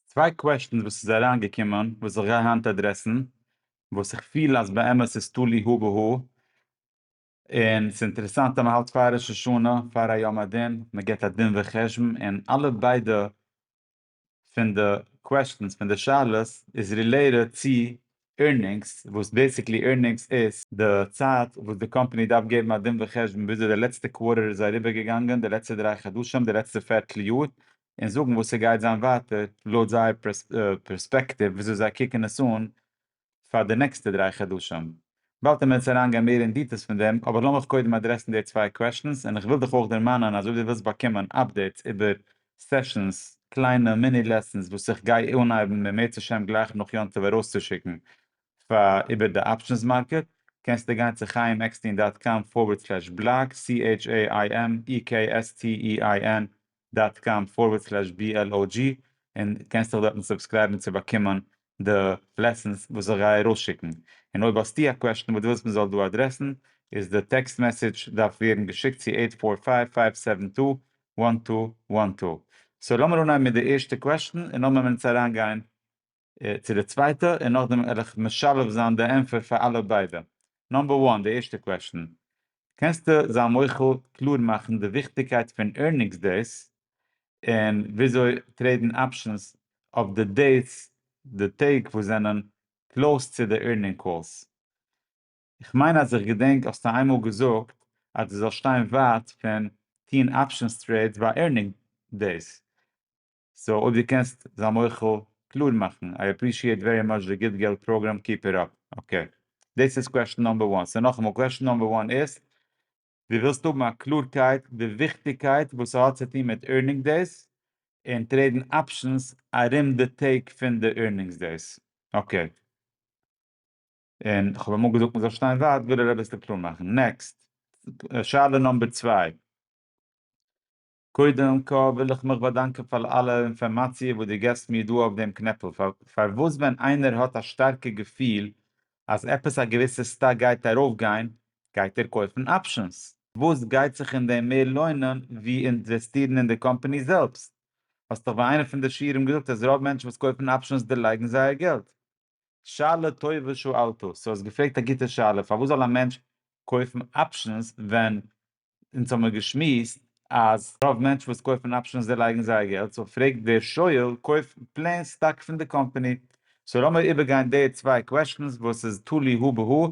צוויי קוועשטענס וואס איז אריין געקומען וואס איך גיי היינט עדרעסן וואס איך פיל אז באמת איז תלוי הא בהא און ס'איז אינטערעסאנט אז מ'האלט פאר ראש השנה פאר א יום הדין מ'געבט א דין וחשבון און אלע ביידע פון די קוועשטענס פון די שאלות איז רילעיטעד צו עירנינגס וואס בעסיקלי עירנינגס איז די צייט וואס די קאמפאני דארף געבן א דין וחשבון וויאזוי די לעצטע קווארטער איז אריבער געגאנגען די לעצטע דריי חדשים די לעצטע פערטל יאר און זאגן וואס ס'גייט זיין ווייטער לויט זייער פערספעקטיוו וויאזוי זיי קוקן עס אן פאר די נעקסטע דריי חדשים. באלד וועלן מיר אונז אריינגיין מער אין דיטעלס פון דעם, אבער לאמיך קודם אדרעסן די צוויי קוועשטענס, און כ'וויל דיך אויך דערמאנען אז אויב דו ווילסט באקומען אפדעיטס איבער סעשאנס, קליינע מיני לעסאנס וואס איך גיי אנהייבן במעט השם גלייך נאך יום טוב ארויסצושיקן פאר איבער די אפשענס מארקעט, קענסטו גיין צו חיים עקסטין דאט קאם פארווערד סלעש בלאג, CHAIMEKSTEIN דאט קאם פארווערד סלעש בי על או דזשי און קענסט דיך דארטן סובסקרייבן צו באקומען די לעסענס וואס איך גיי ארויסשיקן, און אויב האסטו א קוועשטן וואס דו ווילסט מען זאל דא אדרעסן איז די טעקסט מעסעדזש דארף ווערן געשיקט צו עיט פאר פייוו פייוו סעווען טו וואן טו וואן טו. סאו לאמיר אנהייבן מיט די ערשטע קוועשטן און לאמיר אונז אריינגיין צו די צווייטע און נאכדעם וועל איך משלב זיין די ענפער פאר אלע ביידע. נאמבער וואן, די ערשטע קוועשטען, קענסטו זיין מוחל קלאר מאכן די וויכטיגקייט פון ערנינגס דעיס און וויאזוי טרעידן אפשענס אויף די דעיס, די טעג וואס זענען קלאוס צו די ערנינג קאלס? איך מיין אז איך געדענק האסטו איינמאל געזאגט אז דו זאלסט שטיין ווייט פון טוהן אפשענס טרעידס ביי ערנינג דעיס, סאו אויב דו קענסט זיי מוחל קלאר מאכן איי עפרישיעט ווערי מאטש די גוט געלט פראגראם קיפ איט אפ אקעי. דאס איז קוועשן נאמבער וואן סאו נאכאמאל קוועשן נאמבער וואן איז דו ווילסט האבן א קלארקייט די וויכטיגקייט וואס סהאט צו טון מיט עירנינג דעיס און טרעידן אפשענס ארום די טעג פון די עירנינגס דעיס אקעי און כהאב אמאל געזאגט מזאל שטיין ווייט וויל ער אביסל קלאר מאכן נעקסט שאלה נאמבער צוויי. קודם כל וויל איך מיך באדאנקען פאר אלע אינפארמאציע וואס דו געבסט מיר דא אויף דעם קנעפל, פארוואס ווען איינער האט א שטארקע געפיל אז עפעס א געוויסע סטאק גייט ארויפגיין, גייט ער קויפן אפשענס, וואס גייט זיך אין דעם מער לוינען ווי אינוועסטירן אין די קאמפאני זעלבסט? האסט דאך ביי איינע פון די שיעורים געזאגט אז רוב מענטשן וואס קויפן אפשענס דערלייגן זייער געלט. שאלה טובה שאלת, סאו האסט געפרעגט א גוטע שאלה, פארוואס זאל א מענטש קויפן אפשענס ווען אונז האמיר געשמועסט אז רוב מענטשן וואס קויפן אפשענס דערלייגן זייער געלט, סאו פרעגט דער שואל קויפט פלעין סטאק פון די קאמפאני, סאו לאמיר איבערגיין די צוויי קוועשטענס וואס איז תלוי הא בהא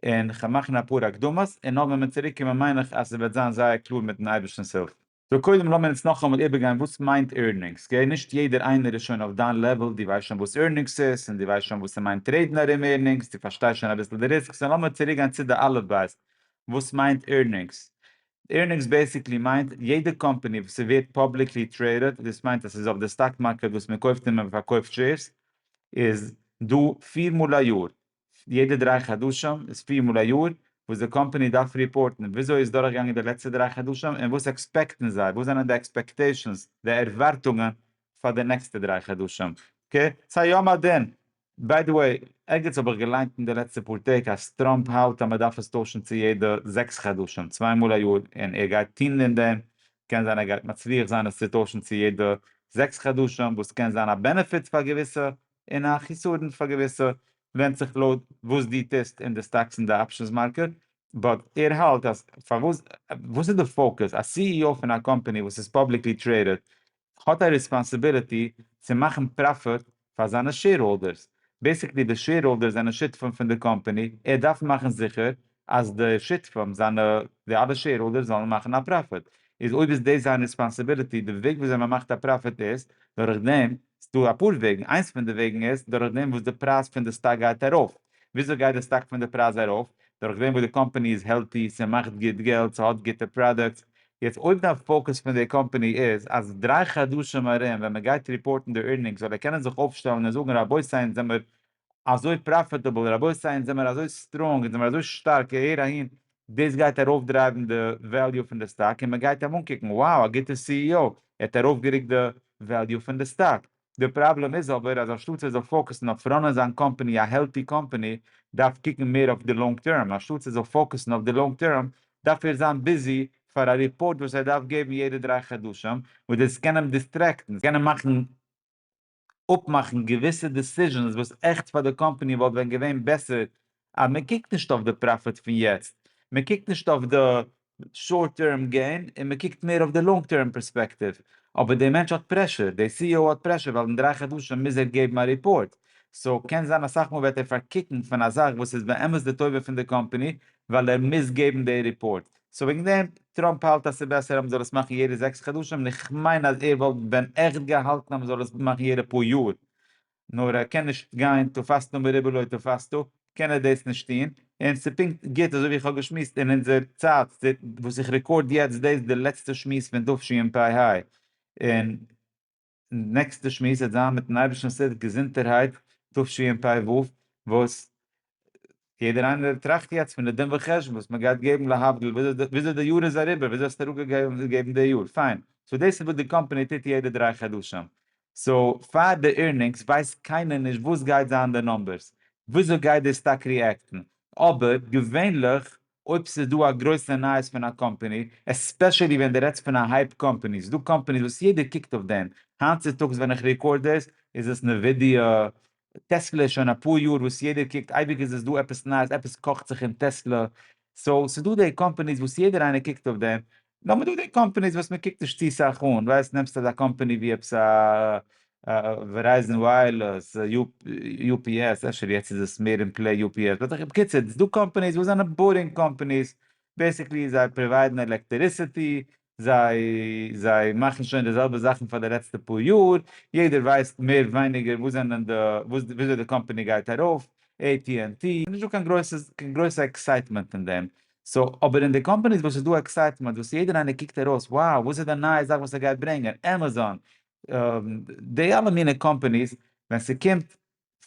און כ'וועל מאכן אפאר הקדמות און נאר ווען מיר צוריקקומען מיין איך אז ס'וועט זיין זייער קלאר מיטן אייבערשטנ'ס הילף. סאו קודם לאמיר אונז נאכאמאל איבערגיין וואס מיינט ערנינגס, אקעי? נישט יעדער איינער איז שוין אויף דיין לעוועל, דו ווייסט שוין וואס ערנינגס איז, און דו ווייסט שוין וואס ס'מיינט טרעידן ארום ערנינגס, דו פארשטייסט שוין אביסל די ריסקס, און לאמיר צוריקגיין צו די אלף בית, וואס מיינט ערנינגס? ערנינגס בעיסיקלי מיינט, יעדע קאמפאני וואס ס'ווערט פאבליקלי טרעידעד, דאס מיינט אז ס'איז אויף די סטאק מארקעט וואס מ'קויפט און מ'פארקויפט שעירס, איז דא פיר מאל א יאר, יעדע דריי חדשים, איז פיר מאל א יאר וואס די קאמפאני דארף ריפארטן וויאזוי איז דורכגעגאנגען די לעצטע דריי חדשים און וואס עקספעקטן זיי, וואס זענען די עקספעקטעישאנס, די ערווארטונגען, פאר די נעקסטע דריי חדשים, ק ס היום הדין. ביי די וועי, ערגעץ האב איך געליינט אין די לעצטע פאר טעג אז טראמפ האלט אז מען דארף עס טוישן צו יעדע זעקס חדשים, צוויי מאל א יאר, און ער גייט טון אין דעם, קען זיין ער גייט מצליח זיין עס צו טוישן צו יעדע זעקס חדשים, וואס קען זיין א בענעפיט פאר געוויסע, און א חיסרון פאר געוויסע, ווענדט זיך לויט וואס דו טוסט אין די סטאקס און די אפשענס מארקעט, באט ער האלט אז פארוואס וואס איז די פאוקעס, א סי אי או פון א קאמפאני וואס איז פאבליקלי טרעידעד האט א ריספאנסיביליטי צו מאכן פראפיט פאר זיינע שעירהאלדערס, בעיסיקלי די שעירהאלדערס זענען שותפים פון די קאמפאני, ער דארף מאכן זיכער אז די שותפים זיינע די אלע שעירהאלדערס זאלן מאכן א פראפיט, איז אויב איז דאס זיין ריספאנסיביליטי, די וועג וויאזוי מען מאכט א פראפיט איז דורכדעם ס'דא אפאר וועגן, איינס פון די וועגן איז דורך דעם וואס די פרייז פון די סטאק גייט ארויף, וויאזוי גייט די סטאק פון די פרייז ארויף? דורך דעם וואס די קאמפעני איז העלטי, ס'מאכט גוט געלט, ס'האט גוטע פראדוקטס, יעצט אויב דיין פאוקוס פון די קאמפעני איז אז דריי חדשים ארום ווען מ'גייט ריפארטן די עירנינגס זאל ער קענען זיך אויפשטעלן און זאגן רבותי אונז זעמער אזוי פראפיטעבל, רבותי אונז זעמער אזוי סטראנג, אונז זעמער אזוי שטארק, הער אהין, דאס גייט ארויפדרייוון די וועליו פון די סטאק, און מען גייט אים אנקוקן, wow א גוטע סי אי או, ער האט ארויפגערוקט די וועליו פון די סטאק, די פראבלעם איז אבער אז אנשטאטס ער זאל פאוקעסן אויף ראנען זיין קאמפעני א העלטי קאמפעני, דארף קוקן מער אויף די לאנג טערם, אנשטאטס ער זאל פאוקעסן אויף די לאנג טערם, דארף ער זיין ביזי פאר א ריפארט וואס ער דארף געבן יעדע דריי חדשים, וואס דאס קען אים דיסטרעקטן, עס קען אים מאכן. אפמאכן געוויסע דעסיזשענס וואס עכט פאר די קאמפאני וואלט ווען געווען בעסער אז מען קוקט נישט אויף די פראפיט פון יעצט, מען קוקט נישט אויף די שארט טערם געין און מען קוקט מער אויף די לאנג טערם פערספעקטיוו, אבער דער מענטש האט פרעשור, דער סי אי או האט פרעשור ווייל אין דריי חדשים מוז ער געבן א ריפארט, סאו קען זיין אסאך מאל וועט ער פארקוקן פון א זאך וואס איז באמת די טובה פון די קאמפאני ווייל ער מוז געבן די ריפארט. סאו וועגן דעם, טראמפ האלט אז ס'איז בעסער אז מ'זאל עס מאכן יעדע זעקס חדשים, און איך מיין אז ער וואלט ווען עכט געהאלטן אז מ'זאל עס מאכן יעדע פאר יאר, נאר ער קען נישט גיין תפסת מרובה לא תפסת, קען ער דאס נישט טון, און ס'איז פונקט גוט אזוי ווי איך האב געשמועסט אין אונזער צייט, וואס איך רעקארד יעצט דאס איז די לעצטע שמועס פון תשפ ה, און. און נעקסטע שמועס וועט זיין מיטן אייבערשטנס הילף געזונטערהייט תשפ א וואס יעדער איינער טראכט יעצט פון די דין וחשבון וואס מען גייט געבן להבדיל וויאזוי די יאר איז אריבער וויאזוי האסטו אראפגעגעבן די יאר פיין סאו דאס איז וואס די קאמפאני טוט יעדע דריי חדשים סאו פאר די עירנינגס ווייסט קיינער נישט וואס גייט זיין די נומבערס וויאזוי גייט די סטאק ריעקטן אבער געווענליך אויב ס'איז דא א גרויסע נייעס פון א קאמפעני, עספעשעלי ווען די רעדסט פון א הייפ קאמפעני, ס'איז דא קאמפעניס וואס יעדער קוקט אויף דעם, היינט צוטאגס ווען איך רעקארד דאס איז עס נווידיא, טעסלע איז שוין אפאר יאר וואס יעדער קוקט, אייביג איז עס דא עפעס נייעס, עפעס קאכט זיך אין טעסלע, סאו ס'איז דא די קאמפעניס וואס יעדער איינער קוקט אויף דעם, נאר מ'דא די קאמפעניס וואס מ'קוקט נישט צו סאך אן, ווייסט נעמסט אזא קאמפעני ווי עפעס א ווערייזען ווייערלעס, יו פי עס, אפשר יעצט איז עס מער אין פלעי יו פי עס, באט בקיצור ס'דא קאמפעניס וואס זענען בארינג קאמפעניס, בעסיקלי זיי פראוויידן עלעקטעריסעטי, זיי זיי מאכן שוין די זעלבע זאכן פאר די לעצטע פאר יאר, יעדער ווייסט מער ווייניגער וואס זענען די וויאזוי די קאמפעני גייט ארויף, עי טי ענד טי, נישטא קיין גרויסע עקסייטמענט אין דעם, סאו אבער אין די קאמפאניס וואס ס'איז דא עקסייטמענט וואס יעדער איינער קוקט ארויס wow וואס איז די נייע זאך וואס ער גייט ברענגען עמעזאן די אלע מיני קאמפאניס ווען ס'קומט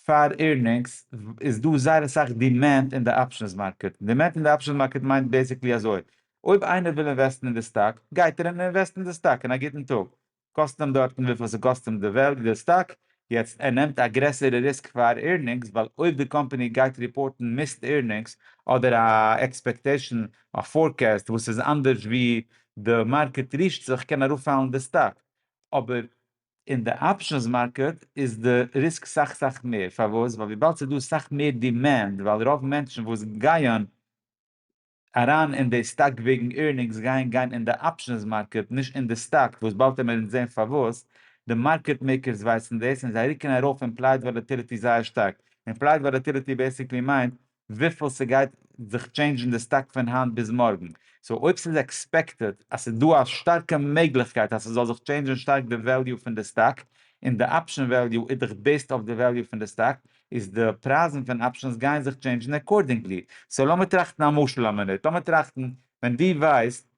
פאר עירנינגס איז דא זייער אסאך דימענד אין די אפשענס מארקעט, דימענד אין די אפשענס מארקעט מיינט בעסיקלי אזוי אויב איינער וויל אינוועסטן אין די סטאק גייט ער און אינוועסט אין די סטאק אין א גוטן טאג קאסט אים דארטן וויפיל ס'קאסט אים די וועלט די סטאק, יעצט ער נעמט א גרעסערע ריסק פאר עירנינגס ווייל אויב די קאמפעני גייט ריפארטן מיסט עירנינגס אדער א עקספעקטעישן א פארקעסט וואס איז אנדערש ווי די מארקעט רישט זיך קען אראפפאלן די סטאק, אבער אין די אפשענס מארקעט איז די ריסק סאך סאך מער, פארוואס? ווייל וויבאלד ס'איז דא סאך מער דימענד ווייל רוב מענטשן וואס גייען. אריין אין די סטאק וועגן עירנינגס גייען גיין אין די אפשענס מארקעט נישט אין די סטאק וואס באלד העמער אונז זעהן פארוואס, די מארקעט מעיקערס ווייסן דאס און זיי רוקן ארויף אימפלייד וואלעטיליטי זייער שטארק, אימפלייד וואלעטיליטי בעסיקלי מיינט וויפיל סגייט זיך טשעינדזשן די סטאק פון היינט ביז מארגן, סאו אויב סאיז עקספעקטעד אז סאיז דא א שטארקע מעגליכקייט אז סזאל זיך טשעינדזשן שטארק די וועליו פון די סטאק, און די אפשען וועליו איז דאך בעיסד אויף די וועליו פון די סטאק, איז די פרייזן פון אפשענס גייען זיך טשעינדשן עקארדינגלי, סאו לאמיר טראכטן א משל א מינוט, לאמיר טראכטן ווען דו ווייסט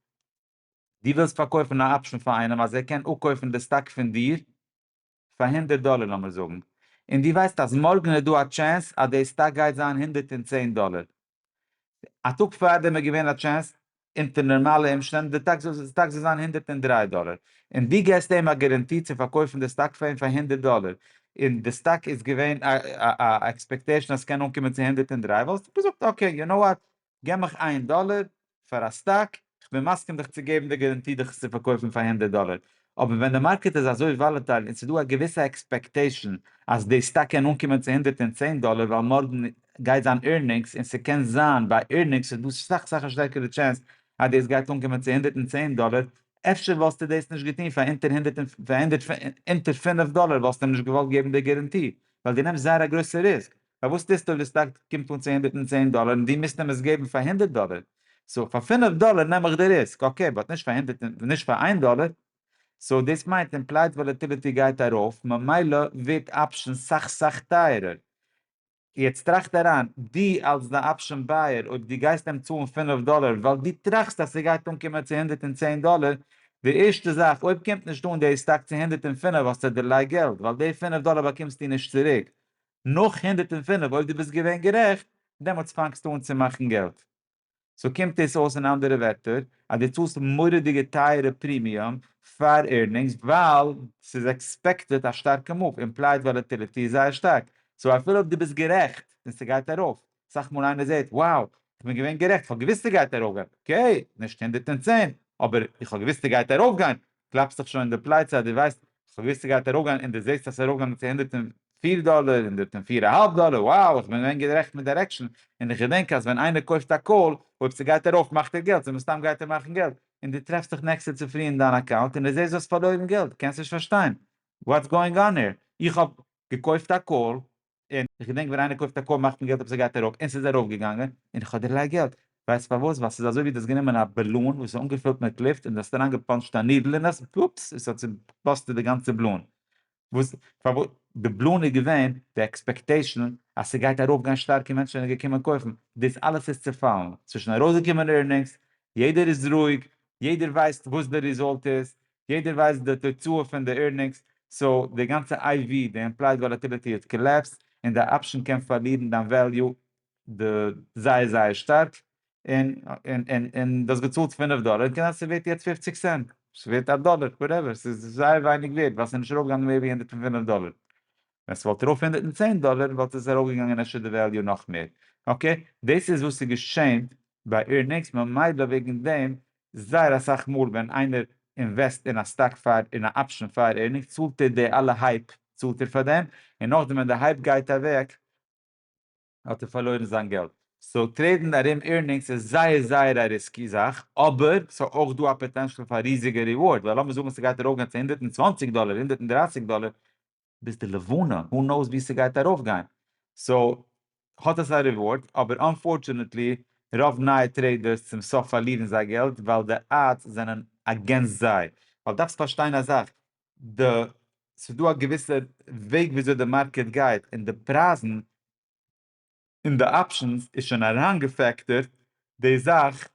דו ווילסט פארקויפן א אפשען פאר איינעם אז ער קען אפקויפן די סטאק פון דיר פאר הונדערט דאלער לאמיר זאגן, און דו ווייסט אז מארגן איז דא א טשענס אז די סטאק גייט זיין הונדערט און צען דאלער, א טאג פארדעם איז געווען א טשענס אונטער נארמאלע אומשטענדן די סטאק זאל זיין הונדערט און דרײַ דאלער און דו געסט אים א גאראנטי צו פארקויפן די סטאק פאר אים פאר הונדערט דאלער און די סטאק איז געווען א עקספעקטעישן אז ס'קען אנקומען צו הונדערט און דרײַ וואלסטו געזאגט אקעי יו נאו וואט געב מיך איין דאלער פאר א סטאק, כ'בין מסכים דיך צו געבן די גאראנטי דיך עס צו פארקויפן פאר הונדערט דאלער, אבער ווען די מארקעט איז אזוי וואלעטייל און ס'איז דא א געוויסע עקספעקטעישן אז די סטאק קען אנקומען צו הונדערט און צען דאלער ווייל מארגן גייט זיין עירנינגס און ס'קען זיין ביי עירנינגס איז דא סאך סאך א שטערקערע טשענס אז דאס גייט אנקומען צו הונדערט און צען דאלער, אפשר וואלסטו דאס נישט געטון פאר אונטער הונדערט און פאר אונטער פינף דאלער וואלסטו אים נישט געוואלט געבן די גאראנטי ווייל דו נעמסט זייער א גרויסע ריסק, פארוואס טוסטו אויב די סטאק קומט אן צו הונדערט און צען דאלער און דו מוזט אים עס געבן פאר הונדערט דאלער, סאו פאר פינף דאלער נעם איך די ריסק, אקעי באט נישט פאר הונדערט און נישט פאר איין דאלער, סאו דאס מיינט אימפלייד וואלעטיליטי גייט ארויף ממילא ווערט אפשענס סאך סאך טייערער, יעצט טראכט אריין, דו אלס די אפשען בייער אויב דו גייסט אים צאלן פינף דאלער ווייל דו טראכסט אז ס'גייט אנקומען צו הונדערט און צען דאלער, די ערשטע זאך אויב קומט נישט אן די סטאק צו הונדערט און פינף האסטו דערליי געלט ווייל די פינף דאלער באקומסטו נישט צוריק, נאך הונדערט און פֿינף אויב דו ביסט געווען גערעכט דעמאלטס פאנגסטו אן צו מאכן געלט. סאו קומט דאס אויס אין אנדערע ווערטער אז דו צאלסט מורא'דיגע טייערע פרימיום פאר עירנינגס ווייל ס'איז עקספעקטעד א שטארקע מאוו, אימפלייד וואלעטיליטי איז זייער שטארק סאו אפילו אויב דו ביסט גערעכט און ס'גייט ארויף אסאך מאל איינער זעהט wow כ'בין געווען גערעכט כ'האב געוויסט ס'גייט ארויפגיין אקעי נישט הונדערט און צען אבער איך האב געוויסט ס'גייט ארויפגיין קלאפסט דיך שוין אין די פלייצע אז דו ווייסט ס'געוויסע ס'גייט ארויפגיין און דו זעסט אז ס'איז ארויפגעגאנגען צו הונדערט און פֿיר דאלער הונדערט און פֿיר אהאלב דאלער wow איך בין געווען גערעכט מיט דירעקשאן און איך געדענק אז ווען איינער קויפט א קאל אויב ס'גייט ארויף מאכט ער געלט און מסתם גייט ער מאכן געלט און דו טרעפסט דיך נעקסטע צופרי אין דיין אקאונט און דו זעסט דו האסט פארלוירן געלט קענסט נישט פארשטיין וואטס גאוינג אן העיר איך האב געקויפט א קאל און איך געדענק ווען איינער קויפט א קאר מאכט מען געלט אויב ס'גייט ארויף, און ס'איז ארויף געגאנגען, און איך האב דערלייגט געלט, ווייסט פארוואס? ווייל ס'איז אזוי ווי דו האסט גענומען א באלון וואס איז אנגעפילט מיט לופט און דו האסט אריין געפאנטשט א נידל אין עס, אופס, עס האט צובאסטעט די גאנצע באלון, וואס פארוואס? די באלון איז געווען די עקספעקטעישן אז ס'גייט ארויף גיין שטארק און מענטשן זענען געקומען קויפן, דאס אלעס איז צופאלן, ס'איז שוין ארויסגעקומען ערנינגס, יעדער איז רואיג, יעדער ווייסט וואס די ריזאלט איז, יעדער ווייסט די תוצאה פון די עירנינגס, סאו די גאנצע איי ווי, די אימפלייד וואלאטיליטי האט קאלעפסט, און די אפשן קען פארלירן דיין וועליו זייער זייער שטארק, און און דו האסט געצאלט פֿינף דאלער, און קען זיין ס'איז ווערט יעצט פֿופֿציק סענט, ס'איז ווערט א דאלער, וואטעווער, ס'איז זייער ווייניג ווערט, ווייל ס'איז נישט ארויפגעגאנגען מער ווי הונדערט און פֿינף דאלער, ווען ס'וואלט ארויף הונדערט און צען דאלער וואלט עס ארויפגעגאנגען אפשר די וועליו נאך מער, אקעי, דאס איז וואס איז געשען ביי עירנינגס, ממילא וועגן דעם זייער אסאך מאל ווען איינער אינוועסט אין א סטאק פאר אין א אפשען פאר ערנינג צאלט ער די אלע הייפ צאלט ער פאר דעם און נאכדעם ווען די הייפ גייט אוועק האט ער פארלוירן זיין געלט. סאו טרעידן ארום ערנינגס איז זייער זייער א ריסקי זאך אבער סאיז אויך דא א פאטענשעל פאר א ריזיגע ריווארד ווייל לאמיר זאגן סגייט ארויפגיין צו הונדערט און צוואנציג דאלער הונדערט און דרייסיג דאלער ביז די לבנה, הו נאוס ווי ס'גייט ארויף גיין, סאו האט עס א ריווארד, אבער אנפארטשענעטלי רוב נייע טרעידערס צום סוף פארלירן זייער געלט ווייל די אדס זענען אגענסט זיי, ווייל דארפסט פארשטיין א זאך, די ס'איז דא א געוויסע וועג וויאזוי די מארקעט גייט, און די פרייזן און די אפשענס איז שוין אריינגעפעקטערט די זאך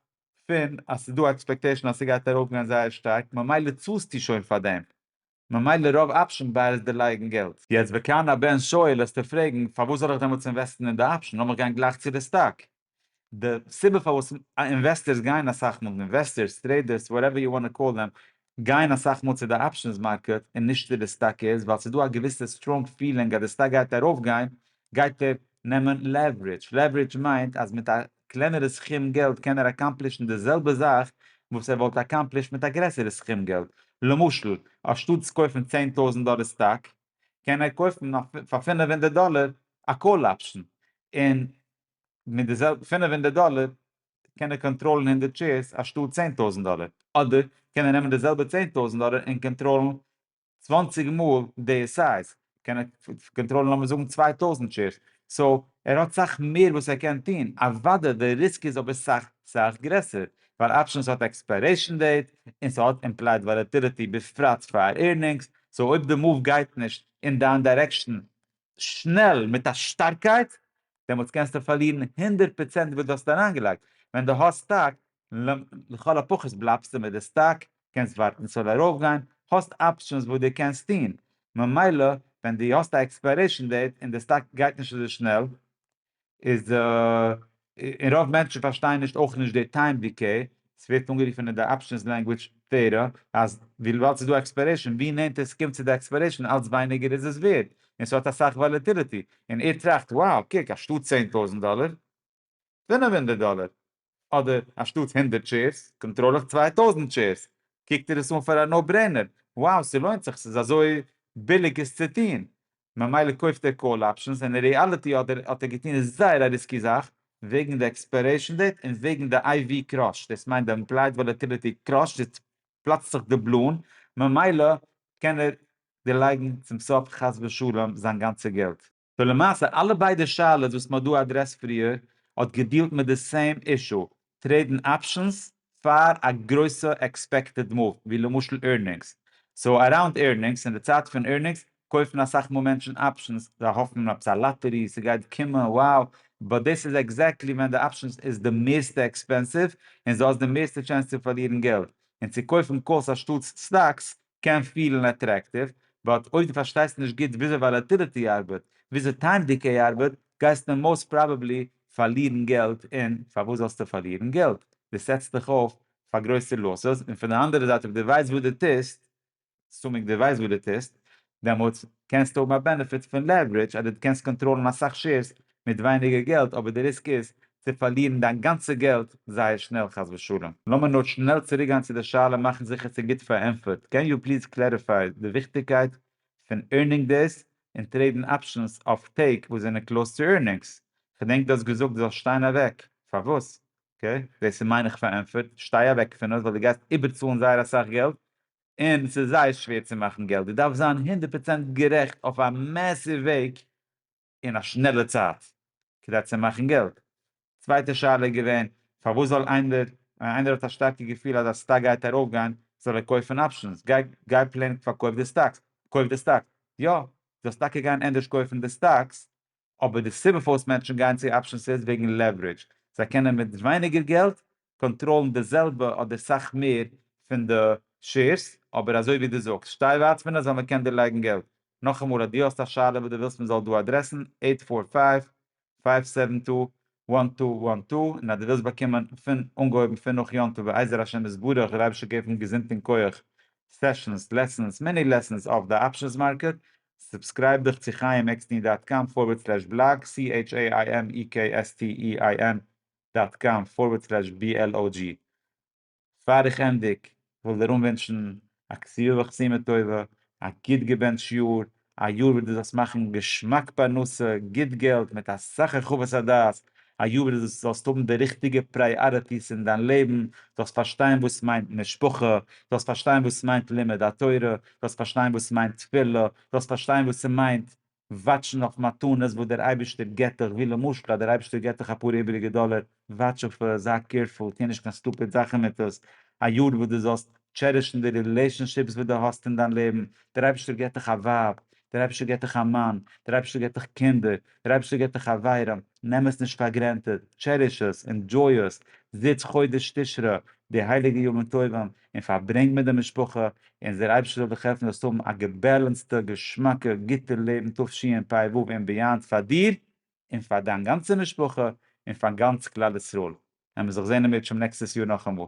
פון אז ס'איז דא עקספעקטעישן אז ס'גייט ארויפגיין זייער שטארק ממילא צאלסטו שוין פאר דעם, ממילא רוב אפשען ביי איז דערלייגן געלט. יעצט וכאן הבן שואל עסטו פרעגן פארוואס זאל איך דעמאלטס אינוועסטן אין די אפשען לאמיך גיין גלייך צו די סטאק. די סיבה פארוואס אינוועסטערס גייען אסאך מאל, אינוועסטערס, טרעידערס, וואטעווער יו וואנט טו קאל דעם, גייען אסאך מאל צו די אפשענס מארקעט און נישט צו די סטאק איז ווייל ס'איז דא א געוויסע סטראנג פילינג אז די סטאק גייט ארויפגיין גייט ער נעמען לעווערידזש, לעווערידזש מיינט אז מיט א קלענערע סכום געלט קען ער אקאמפלישן די זעלבע זאך וואס ער וואלט אקאמפלישט מיט א גרעסערע סכום געלט, למשל אנשטאט צו קויפן צען טויזנט דאלער סטאק קען ער קויפן פאר פֿינף הונדערט דאלער א קאל אפשן און מיט די זעלבע פֿינף הונדערט דאלער קען ער קאנטראלן הונדערט שעירס אנשטאט צען טויזנט דאלער, אדער קען ער נעמען די זעלבע צען טויזנט דאלער און קאנטראלן צוואנציג מאל די סייז, קען ער קאנטראלן לאמיר זאגן צוויי טויזנט שעירס, סאו ער האט סאך מער וואס ער קען טון, אוודאי די ריסק איז אבער סאך סאך גרעסער, ווייל אפשענס האט עקספיירעישן דעיט, און ס'האט אימפלייד וואלעטיליטי בפרט פאר עירנינגס, סאו אויב די מאוו גייט נישט אין דיין דיירעקשן שנעל מיט א שטארקייט, דעמאלטס קענסטו פארלירן הונדערט פראצענט וואס דו האסט אריינגעלייגט, ווען דו האסט סטאק, לכל הפחות בלייבסטו מיט די סטאק, קענסט ווארטן ס'זאל ארויפגיין, האסט אפשענס וואס דו קענסט טון, ממילא ווען דו האסט א עקספיירעישן דעיט און די סטאק גייט נישט אזוי שנעל, איז די און רוב מענטשן פארשטייען נישט אויך נישט די טיים דיקעי, ס'ווערט אנגערופן אין די אפשענס לענגוויטש טעארי אז וויבאלד ס'איז דא עקספיירעישן ווי נענטער ס'קומט צו די עקספיירעישן אלץ ווייניגער איז עס ווערד און ס'האט אסאך וואלעטיליטי און ער טראכט wow קוק אנשטאט צען טויזנט דאלער געווינען מיר הונדערט דאלער אדער אנשטאטס הונדערט טשעירס קאנטראל איך צוויי טויזנט טשעירס, קוקט איר עס אן פאר א נאו ברעינער, wow ס'לוינט זיך ס'איז אזוי ביליג עס צו טון, ממילא קויפט ער קאל אפשענס, אין רעאליטי האט ער האט ער געטון זייער א ריסקי זאך, וועגן די עקספיירעישן דעיט און וועגן די איי ווי קראש, דאס מיינט די אימפלייד וואלעטיליטי קראשט איז פלאצט זיך די בלון, ממילא קען ער דערלייגן צום סוף חס ושלום זיין גאנצע געלט. ולמעשה אלע ביידע שאלות וואס מ'האט דא אדרעסט פריער האט געדיעלט מיט די סעים אישו, טרעידן אפשענס פאר א גרויסע עקספעקטעד מאוו ווי למשל עירנינגס, סאו אראונד עירנינגס אין די צייט פון עירנינגס קויפן אסאך מאל מענטשן אפשענס זיי האפן עפעס א לאטערי ס'גייט קומען wow באט דאס איז עקזעקטלי ווען די אפשענס איז די מערסטע עקספענסיוו און זו האסט די מערסטע טשענס צו פארלירן געלט און צו קויפן קאלס אנשטאטס סטאקס קען פילן אטרעקטיוו, באט אויב דו פארשטייסט נישט גוט וויאזוי וואלעטיליטי ארבעט, וויאזוי טיים דיקעי ארבעט, גייסטו מאוסט פראבעבלי פארלירן געלט, און פארוואס זאלסטו פארלירן געלט? דו סעטסט דיך אויף פאר גרויסע לאסעס, און פון די אנדערע זייט אויב דו ווייסט וואס דו טוסט, אסומינג דו ווייסט וואס דו טוסט, דעמאלטס קענסטו האבן א בענעפיט פון לעווערידזש אז דו קענסט קאנטראלן אסאך שעירס מיט ווייניגער געלט אבער די ריסק איז צו פארלירן דיין גאנצע געלט זייער שנעל חס ושלום. לאמיר נאר שנעל צוריק גיין צו די שאלה מאכן זיכער ס'איז גוט פארענטפערט, קען יו פליז קלעריפיי די וויכטיגקייט פון ערנינג דעיס און טרעידן אפשענס אויף טעג וואס זענען קלאוס צו ערנינגס? כ'דענק דו האסט געזאגט דו זאלסט שטיין אוועק פארוואס? אקעי דעיס איז מיינעך פארענטפערט, שטיי אוועק פון עס ווייל דו גייסט איבערצאלן זייער אסאך געלט און ס'איז זייער שווער צו מאכן געלט, דו דארפסט זיין הונדערט פראצענט גערעכט אויף א מעסיוו וועג, אין א שנעלע צייט כדי צו מאכן געלט. צווייטע שאלה איז געווען פארוואס זאל איינער ווען איינער האט א שטארקע געפיל אז א סטאק גייט ארויפגיין זאל ער קויפן אפשענס, גיי גיי פלענק פארקויף די סטאקס, קויף די סטאקס, יא דו זאלסט טאקע גיין ענדערש קויפן די סטאקס, אבער די סיבה פארוואס מענטשן גייען צו אפשענס איז וועגן לעווערידזש, זיי קענען מיט ווייניגער געלט קאנטראלן די זעלבע אדער סאך מער פון די שעירס, אבער אזוי ווי דו זאגסט, שטיי ווייט פון עס ווייל מען קען דיר לייגן געלט. נאכאמאל אז דו האסט א שאלה וואס דו ווילסט מען זאל דא אדרעסן, עיט פאר פייוו, פייוו סעווען טו, וואן טו וואן טו, און אז דו ווילסט באקומען פון אנגעהויבן פון נאך יום טוב בעזר השם יתברך, דער אייבערשטער געב אונז געזונט און כח, סעשאנס, לעסאנס, מיני לעסאנס אויף די אפשענס מארקעט, סובסקרייב דיך צו חיימעקסטין דאט קאם פארווערד סלעש בלאג, CHAIMEKSTEIN דאט קאם פארווערד סלעש בי על או דזשי פאר איך ענדיג וויל דיר אנווינטשן א כסיווע וכסימה טובה א גוט געבענטש יאר א יאר וואס דו זאלסט מאכן געשמאק פרנסה גוט געלט מיט אסאך הרחבת הדעת א יאר וואס דו זאלסט האבן די ריכטיגע פריאריטיס אין דיין לעבן זאלסט פארשטיין וואס מיינט משפחה זאלסט פארשטיין וואס מיינט לימוד התורה זאלסט פארשטיין וואס מיינט תפילה זאלסט פארשטיין וואס ס'מיינט וואטשן אויף מתנות וואס דער אייבערשטער געבט דיך, ווי למשל אז דער אייבערשטער געבט דיך אפאר איבעריגע דאלער, וואטש אויף עס, זיי קעירפול, טו נישט קיין סטופיד זאכן מיט עס, א יאר וואס דו זאלסט טשערישן די רילעישאנשיפס וואס דו האסט אין דיין לעבן, דער אייבערשטער געבט דיך א ווייב, דער אייבערשטער געבט דיך א מאן, דער אייבערשטער געבט דיך קינדער, דער אייבערשטער געבט דיך חברים, נעם עס נישט פאר גרענטעד, טשעריש עס, ענדזשוי עס, זיץ חודש תשרי, די הייליגע ימים טובים, און פארברענג מיט די משפחה, און דער אייבערשטער זאל דיך העלפן זאלסט האבן א געבעלענסטע, געשמאקע, גוטע לעבן תשפ א פ וו און ביאנד פאר דיר און פאר דיין גאנצע משפחה און פאר גאנץ כלל ישראל, העמער זיך זעהן אין מיר תשפ נעקסטעס יאר נאכאמאל.